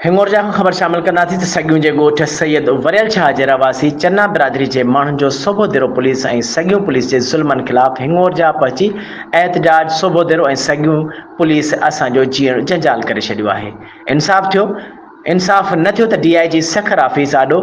هنڱورجا کان خبر شامل ڪنداسين ته سڳيون جي ڳوٺ سيد وريل شاهه جي رهواسي چنا برادري جي ماڻهن جو صوبو ديرو پوليس ۽ سڳيون پوليس جي ظلمن خلاف هنڱورجا پهچي احتجاج صوبو ديرو ۽ سڳيون پوليس اسان جو جيئڻ جنجال ڪري ڇڏيو آهي انصاف ٿيو انصاف نه ٿيو ته D I G Sukkur office آڏو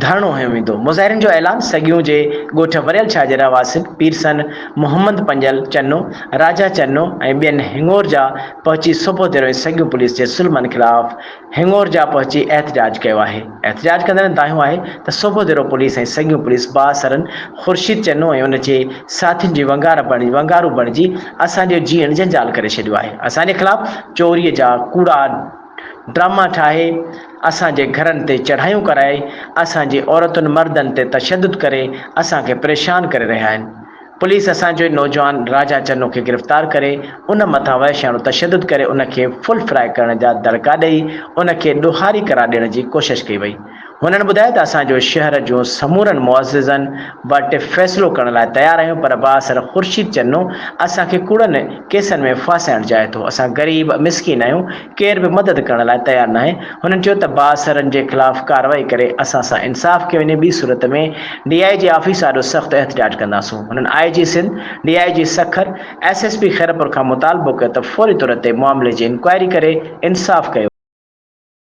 ڌرڻو هنيو ويندو، مظاهرين جو اعلان سڳيون جي ڳوٺ وريل شاهه جي رهواسين پيرسن محمد پنجل چنو، راجا چنو ۽ ٻين هڱورجا پهچي صبح ديرو ۽ سڳيون پوليس جي ظلمن خلاف هڱورجا پهچي احتجاج ڪيو آهي، احتجاج ڪندڙن دانهيو آهي ته صبح ديرو پوليس ۽ سڳيون پوليس بااثرن خورشيد چنو ۽ ان جي ساٿين جي ونگار بڻجي ونگارو بڻجي اسان جو جيئڻ جنجال ڪري ڇڏيو آهي، اسان جي خلاف چوري جا ڪوڙا. ڊراما ٺاهي، اسان جي گهرن تي چڙهايون ڪرائي، اسان جي عورتن مردن تي تشدد ڪري اسان کي پريشان ڪري رهيا آهن. پوليس اسان جو ئي نوجوان راجا چنو کي گرفتار ڪري ان مٿان وحشياڻو تشدد ڪري ان کي ڦل فرائي ڪرڻ جا دڙڪا ڏئي ان کي ڏوهاري قرار ڏيڻ جي ڪوشش ڪئي وئي. هنن ٻڌايو ته اسان جو شهر جون سمورن معززن وٽ فيصلو ڪرڻ لاء تيار آهيون پر بااثر خورشيد چنو اسان کي ڪوڙن ڪيسن ۾ ڦاسائڻ چاهي ٿو، اسان غريب مسڪين آهيون ڪير به مدد ڪرڻ لاء تيار ناهي، هنن چيو ته بااثرن جي خلاف ڪارروائي ڪري اسان سان انصاف ڪيو وڃي ٻي صورت ۾ ڊي آء جي آفيس آڏو سخت احتجاج ڪنداسون، هنن I G Sindh, D I G Sukkur, S S P Khairpur کان مطالبو ڪيو ته فوري طور تي معاملي جي انڪوائري ڪري انصاف ڪيو